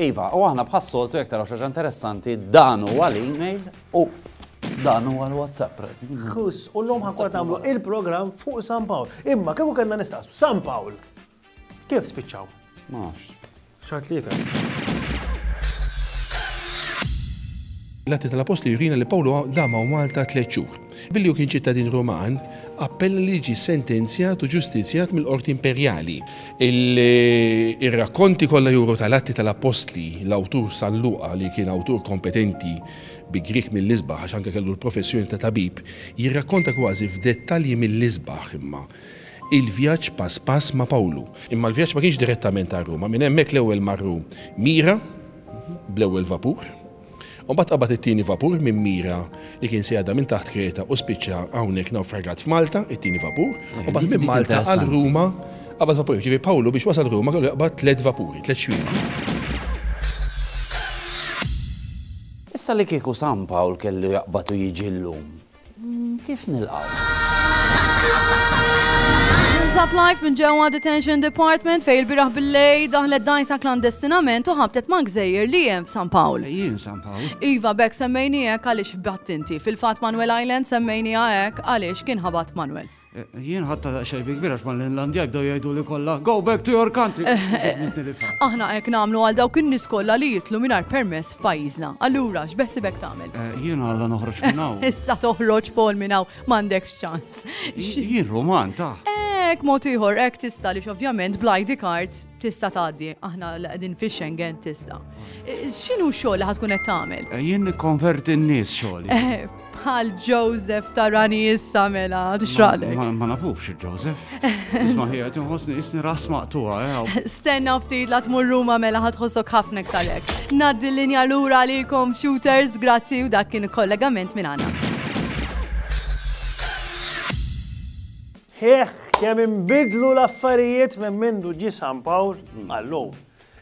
Iva, u aħna bħas-soltu jekk taraw xi ħaġa interessanti, dan huwa l-email u dan huwa l-WhatsApp. Ħuss, u llum ħankun nagħmlu il-programm fuq San Pawl. Imma kieku kellna nistaqsu San Pawl. Kif spiċċaw? Ma nafx. Xaħat li jifhem. L-Atti tal-Apostli jurina li Pawlu dama u Malta tliet xhur. Billi hu kien ċittadin Ruman, appella li jiġi sentenzjat u ġustizzjat mill-qorti imperjali. Ir-rakkonti kollha juru tal-Atti tal-Appostli, l-awtur San Luqa, li kien awtur kompetenti bi Grieg mill-isbaħ għax anke kellu l-professjoni ta' tabib, jirrakkonta kważi f'dettalji mill-isbaħ, imma, il-vjaġġ pass pass ma' Pawlu. Imma l-vjaġġ ma kienx direttament għal Ruma. Minn hemmhekk l-ewwel marru Mira bl-ewwel vapur. U mbagħad qabad it-tieni vapur minn Mira li kien se jgħadda minn taħt Kreta u spiċċa hawnhekk nawfragat f'Malta, it-tieni vapur, u mbagħad minn Malta għal Ruma qabad vapur. Ġifieri Pawlu biex wasal Ruma kellu jaqbad tliet vapuri, tliet xwiemti. Issa li kieku San Pawl kellu jaqbad u jiġi llum, Kif nilqgħu? Tinsab live minn ġewwa Detention Department fej il-biraħ bil-lej daħlet dajsa klandestinament u ħabtet ma' gżejjer li hemm f'San Pawl. Jien San Pawl. Iva bek semmejni hekk għaliex battinti. Fil-fatt Manuel Island semmejni hekk għaliex kien ħabat Manuel. Jien ħadtha daqsxejn bi kbir għax mal-Inlandja jibdew jgħiduli kollha Go back to your country! Aħna hekk nagħmlu għal dawk in-nies kollha li jidħlu mingħajr permess f'pajjiżna. Allura, x'beħsibek tagħmel? Jiena alla noħroġ minn hawn. Issa toħroġ Paul minn hawn, m'għandekx ċans. Jien Ruman, tah! Hekk mod ieħor hekk tista' għaliex ovvjament bl-ID card tista' tgħaddi. Aħna li qegħdin fix-Schengen tista'. X'inhu x-xogħol li ħa tkun qed tagħmel? Jien nikkonverti n-nies xogħli. Bħal Joseph tarani issa mela, tixraqlek. Ma nafux Joseph. Isma ħija tinħosni isni ras maqtuha. Eh, Stenna ftit la tmur Ruma mela ħadħossok ħafna ktalek. Naddi l-linja lura li computers, grazzi u dak kien kollegament minn għana. Heħ, kemm imbidlu l-affarijiet minn mindu ġi San Pawl għallum.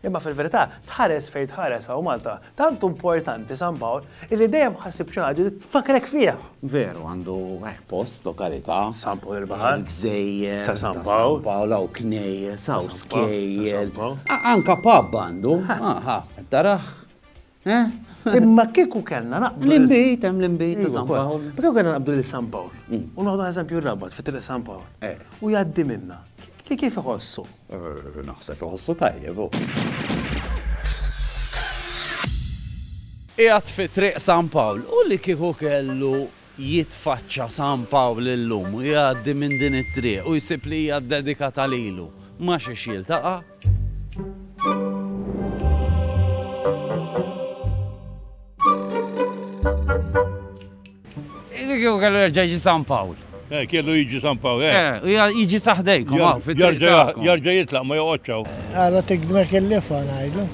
Imma fil-verità, tħares fejn tħares hawn Malta, tant hu importanti San Pawl illi dejjem ħassib xi ħaġa li tfakkrek fih. Veru, għandu hekk post, lokalità. San Pawl il-Baħar. Il-gżejjer. Ta' San Pawl. Ta' San Pawl, hawn knejjes, hawn skejjel. Anke pub għandu. Aha, qed tarah? Imma kieku kellna naqbdu. L-inbit, hemm l-inbit ta' San Pawl. Ma kieku kellna naqbdu lil San Pawl. Mm. U noħdu eżempju rabat fi triq San Pawl. Eh. U jgħaddi minna. Kif iħossu? Eh, naħseb iħossu tajjeb. Oh. Ijat fi triq San Pawl u li kieku kellu Jitfaċċa San Pawl illum u jgħaddi minn din it-triq u jsib li hija ddedikata lilu. Ma' xiex jiltaqa'? Li kieku kellu jerġa' jiġi San Pawl. Eh, kellu jiġi San Pawl, eh. Eh, u jiġi sa ħdejkom hawn fit-triq tagħkom. Jerġa' jitlaq ma joqgħodx hawn. Ara tikdmek il-lifa ngħidlu.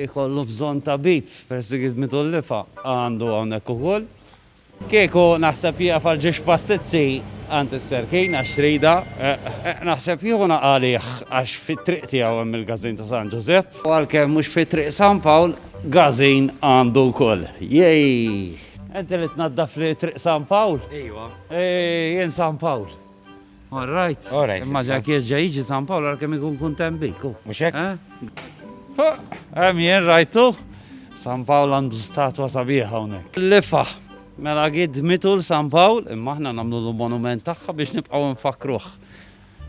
Ikollu bżonn tabib. Persigit mitullifa għandu hawnhekk ukoll. Kieku naħseb jieqaf għal ġiex pastizzi għand is-Serkin għax trida, naħseb jieħu nagħqalih għax fit-triq tiegħu hemm il-Gażin ta' San Ġużepp. U għalkemm mhux fi Triq San Pawl, Gażin għandu wkoll. Jejjh! Inti li tnaddafli Triq San Pawl? Ejwa. Jien San Pawl. All right. All right. Imma ġak jirġa jiġi San Pawl għal kem ikun kuntem bik. Mux hekk? Hemm jien rajtu San Pawl għandu statwa sabiħa hawnhekk. Lifa, mela għid mitu l-San Pawl, imma aħna nagħmlu l-monument tagħha biex nibqgħu nfakruh.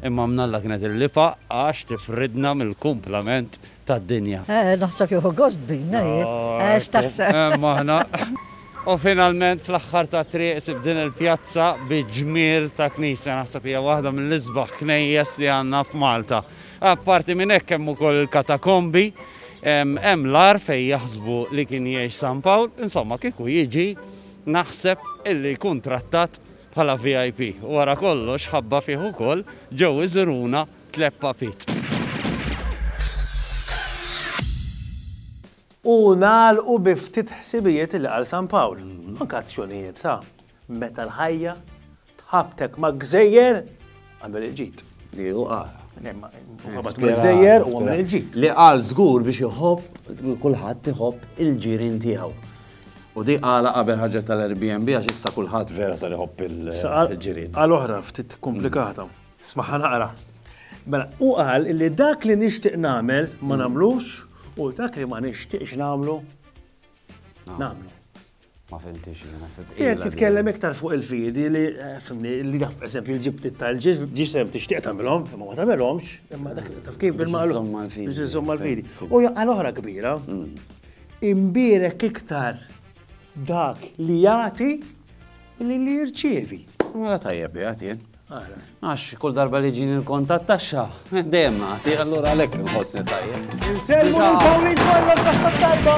Imma mnalla kienet il-lifa għax tifridna mill-kumplament tad-dinja. Eh, naħseb jieħu gost bina, hi? Eh, x'taħseb? Oh, hemm aħna. U finalment fl-aħħar ta' triq sib din il-pjazza bi ġmiel ta' knisja naħseb hija waħda mill-isbaħ knejjes li għandna f'Malta. Apparti minn hekk hemm ukoll il-katakombi, hemm l-ar fejn jaħsbu li kien jgħix San Pawl, insomma kieku jiġi naħseb illi jkun trattat bħala VIP. Wara kollox ħabba fih ukoll ġew iżuruna Tliet papit. U nagħlqu bi ftit ħsibijiet li qal San Pawl, anke azzjonijiet ta' meta l-ħajja tħabbtek ma' gżejjer għamel il-ġid. Li hu qal. Gżejjer u għamel il-ġid. Li qal żgur biex iħobb kulħadd iħobb il-ġirien tiegħu. U di qala qabel ħarġet tal-Airbnb għax issa kulħadd vera sar iħobb il-ġirien. Qal oħra ftit komplikata. Smagħha naqra. Mela, u qal li dak li nixtieq nagħmel ma nagħmlux u dak li ma nixtieqx nagħmlu nagħmlu. Ma fimtix, ma fimtix. Jien titkellem iktar fuq il-fidi li, eh, fimni, li daf, eżempju, ġibti tal-ġiż, ġisem tixtieq tagħmilhom, ma ma tagħmilhomx, imma dak taf kif bil-maqlu. Biex iżomm mal-fidi. U jaqqa l-oħra kbira, mm. imbirek iktar dak li jagħti li li jirċievi. Mela tajjeb jagħti. Għax kull darba li ġini l-kont tat-taxxa, dejjem nagħti, allura għalhekk inħossni tajjeb. Insellmu l-Pauline Farrell tas-Tajba!